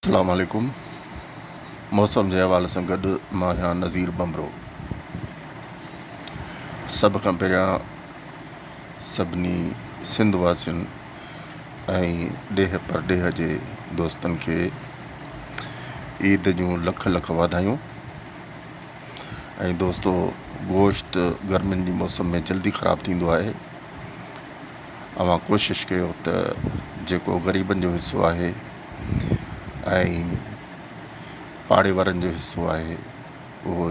اسلام عليڪم موسم جي حوالي سان گڏ مان آهيان نظير ڀنڀرو سڀ کان پهريان سڀني سنڌ واسين ۽ ڏيهه پرڏيهه جي دوستن کي عيد جون لک لک واڌايون ۽ دوستو گوشت گرمين جي موسم ۾ جلدي خراب ٿيندو آهي اوهان ڪوشش ڪيو ته جيڪو غريبن جو حصو آهي ۽ پاڙي وارن جو حصو آهي اهو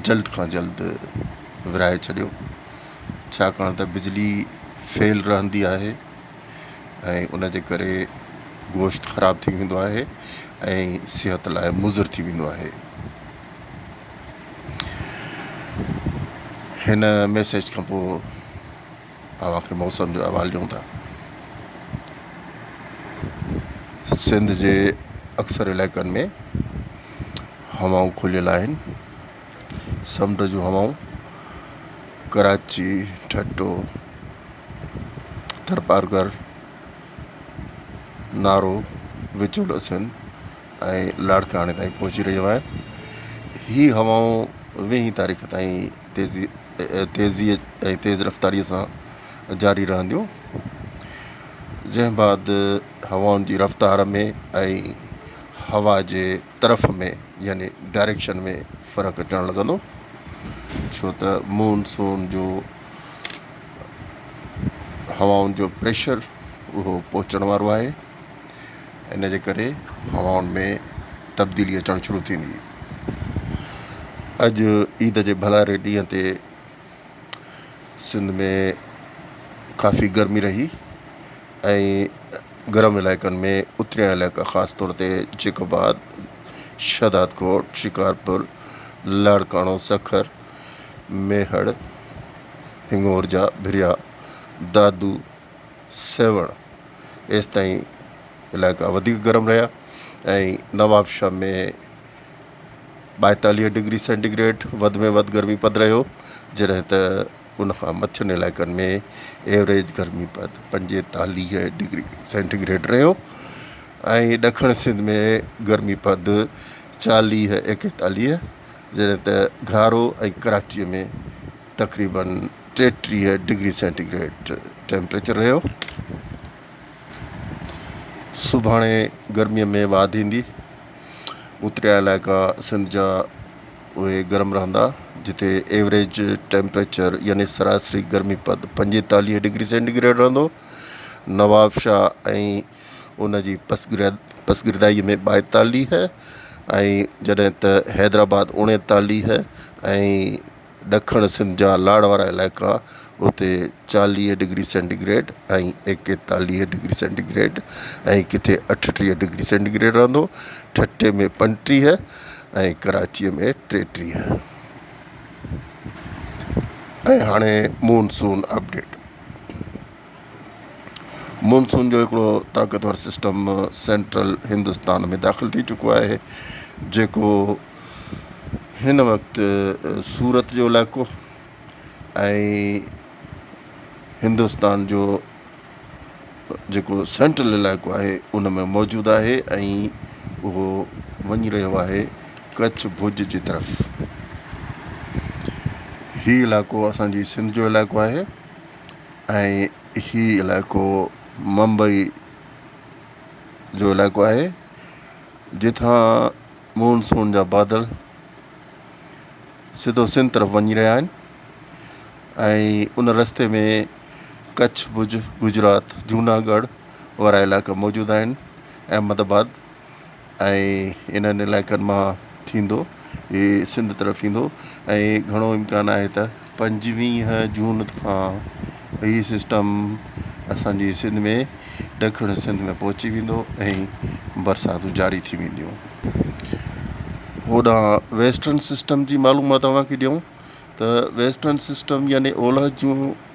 جلد کان جلد ورهائي ڇڏيو ڇاڪاڻ ته بجلي فيل رهندي آهي ۽ ان جي ڪري گوشت خراب ٿي ويندو آهي ۽ صحت لاء مضر ٿي ويندو آهي هن ميسيج کان پوء اوهان کي موسم جو احوال ڏيون ٿا سنڌ جي اڪثر علائقن ۾ هوائون کليل آهن سمنڊ جون هوائون ڪراچي ٺٽو ٿرپارڪر نارو وچولو سنڌ ۽ لاڙڪاڻي تائين پهچي رهيون آهن هي هوائون ويهين تاريخ تائين تيزي تيزي ۽ تيز رفتاري سان جاري رهنديون جنهن بعد هوائن جي رفتار ۾ ۽ هوا جي طرف ۾ يعني ڊائريڪشن ۾ فرق اچڻ لڳندو ڇو ته مون سون جو هوائن جو پريشر اهو پهچڻ وارو آهي ان جي ڪري هوائن ۾ تبديلي اچڻ شروع ٿيندي. اڄ عيد جي ڀلاري ڏينهن تي سنڌ ۾ ڪافي گرمي رهي ۽ گرم علائقن ۾ اتريا علائقا خاص طور تي جيڪب آباد، شهداد ڪوٽ، شڪارپور، لاڙڪاڻو، سکر، ميهڙ، هنڱور جا ڀريا، دادو، سيوهڻ ايستائين علائقا وڌيڪ گرم رهيا ۽ نوابشاهه ۾ ٻائيتاليهه ڊگري سينٽي گريڊ وڌ ۾ وڌ گرمي پد رهيو جڏهن ته ان کان مٿين علائقن ۾ ايوريج گرمي پد پنجيتاليهه ڊگري سينٽي گريڊ رهيو ۽ ڏکڻ سنڌ ۾ گرمي پد چاليهه ايڪيتاليهه جڏهن ته گهارو ۽ ڪراچيء ۾ تقريبن ٽيٽيهه ڊگري سينٽي گريڊ ٽيمپريچر رهيو سڀاڻي گرمي ۾ واڌ ايندي اتريا علائقا سنڌ جا اهي گرم رهندا جتي ايوریج ٽيمپريچر يعني سراسري گرمي پد پنجيتاليهه ڊگري سينٽي گريڊ رهندو نوابشاهه ۽ ان جي پسگردائي ۾ ٻائيتاليهه ۽ جڏهن ته حيدرآباد اوڻيتاليهه ۽ ڏکڻ سنڌ جا لاڙ وارا علائقا اتي چاليهه ڊگري سينٽي گريڊ ۽ ايڪيتاليهه ڊگري سينٽي گريڊ ۽ ڪٿي اٺٽيهه ڊگري سينٽي گريڊ رهندو ٺٽي ۾ پنجٽيهه ۽ ڪراچي ۾ ٽيٽيهه ۽ هاڻي مون سون اپڊيٽ. مونسون جو هڪڙو طاقتور سسٽم سينٽرل هندستان ۾ داخل ٿي چڪو آهي جيڪو هن وقت سورت جو علائقو ۽ هندستان جو جيڪو سينٽرل علائقو آهي ان ۾ موجود آهي ۽ اهو وڃي رهيو آهي ڪڇ ڀڄ جي طرف هي علائقو اسان جي سنڌ جو علائقو آهي ۽ هي علائقو ممبئي جو علائقو آهي جتان مون سون جا بادل سڌو سنڌ طرف وڃي رهيا آهن ۽ ان رستي ۾ ڪڇ ڀڄ گجرات جوناگڙھ وارا علائقا موجود آهن احمد آباد ۽ انهن علائقن مان ٿيندو هي سنڌ طرف ايندو ۽ گهڻو امڪان آهي ته پنجويهه جون کان هي سسٽم اسان جي سنڌ ۾ ڏکڻ سنڌ ۾ پهچي ويندو ۽ برساتون جاري ٿي وينديون هوڏانهن ويسٽرن سسٽم جي معلومات اوهان کي ڏيون ته ويسٽرن سسٽم يعني اولهه جون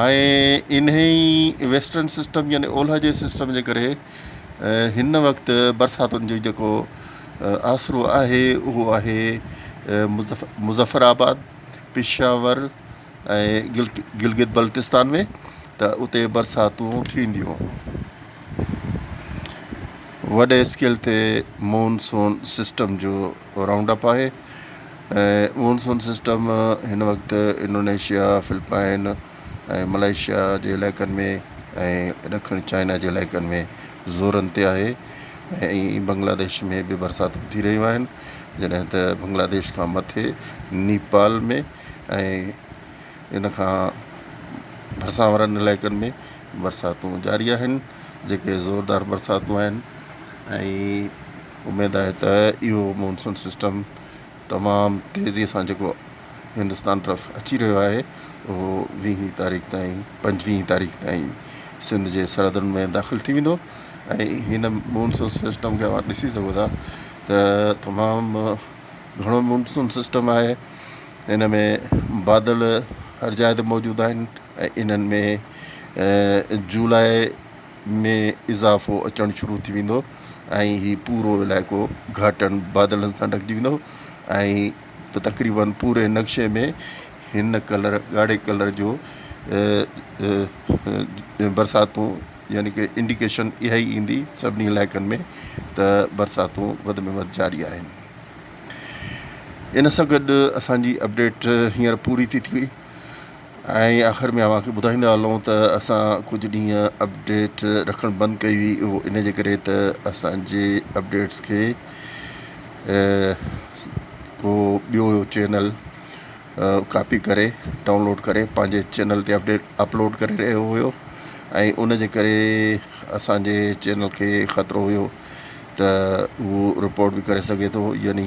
۽ انهي ئي ويسٽرن سسٽم يعني اولهه جي سسٽم جي ڪري هن وقت برساتن جو جيڪو آسرو آهي اهو آهي مظفر آباد پشاور ۽ گلگت بلتستان ۾ ته اتي برساتون ٿينديون وڏي اسڪيل تي مون سون سسٽم جو اهو رائونڊ اپ آهي ۽ مونسون سسٽم هن وقت انڊونيشيا، فلپائن ۽ ملائيشيا جي علائقن ۾ ۽ ڏکڻ چائنا جي علائقن ۾ زورن تي آهي ۽ بنگلاديش ۾ به برساتون ٿي رهيون آهن جڏهن ته بنگلاديش کان مٿي نيپال ۾ ۽ ان کان ڀرسان وارن علائقن ۾ برساتون جاري آهن جيڪي زوردار برساتون آهن ۽ اميد آهي ته اهو مونسون سسٽم تمام تيزي سان جيڪو هندستان طرف اچي رهيو آهي اهو ويهين تاريخ تائين پنجويهين تاريخ تائين سنڌ جي سرحدن ۾ داخل ٿي ويندو ۽ هن مونسون سسٽم کي اوهان ڏسي سگهو ٿا ته تمام گهڻو مونسون سسٽم آهي ان ۾ بادل هر جاء تي موجود آهن ۽ انهن ۾ جولاء ۾ اضافو اچڻ شروع ٿي ويندو ۽ هي پورو علائقو گهاٽن بادلن سان ڍڪجي ويندو ۽ ته تقريباً پوري نقشي ۾ هن ڪلر ڳاڙهي ڪلر جو برساتون يعني ڪه انڊيڪيشن اها ئي ايندي سڀني علائقن ۾ ته برساتون وڌ ۾ وڌ جاري آهن ان سان گڏ اسان جي اپڊيٽ هينئر پوري ٿي ٿي ۽ آخر ۾ اوهان کي ٻڌائيندا هلون ته اسان ڪجهه ڏينهن اپڊيٽ رکڻ بند ڪئي هئي اهو ان جي ڪري ته اسان جي اپڊيٽس کي ڪو ٻيو چينل ڪاپي ڪري ڊائونلوڊ ڪري پنهنجي چينل تي اپڊيٽ اپلوڊ ڪري رهيو هيو ۽ ان جي ڪري اسان جي چينل کي خطرو هيو ته اهو رپورٽ به ڪري سگهي ٿو يعني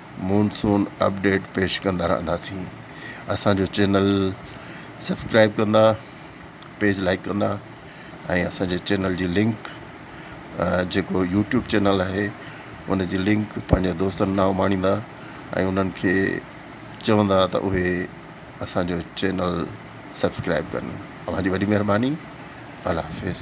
مون سون اپڊيٽ پيش ڪندا رهنداسين اسان جو چينل سبسڪرائب ڪندا پيج لائڪ ڪندا ۽ اسان جي چينل جي لنڪ جيڪو يوٽيوب چينل آهي ان جي لنڪ پنهنجي دوستن ڏانهن اماڻيندا ۽ انهن کي چوندا ته اهي اسان جو چينل سبسڪرائب ڪن اوهان جي وڏي مهرباني الله حافظ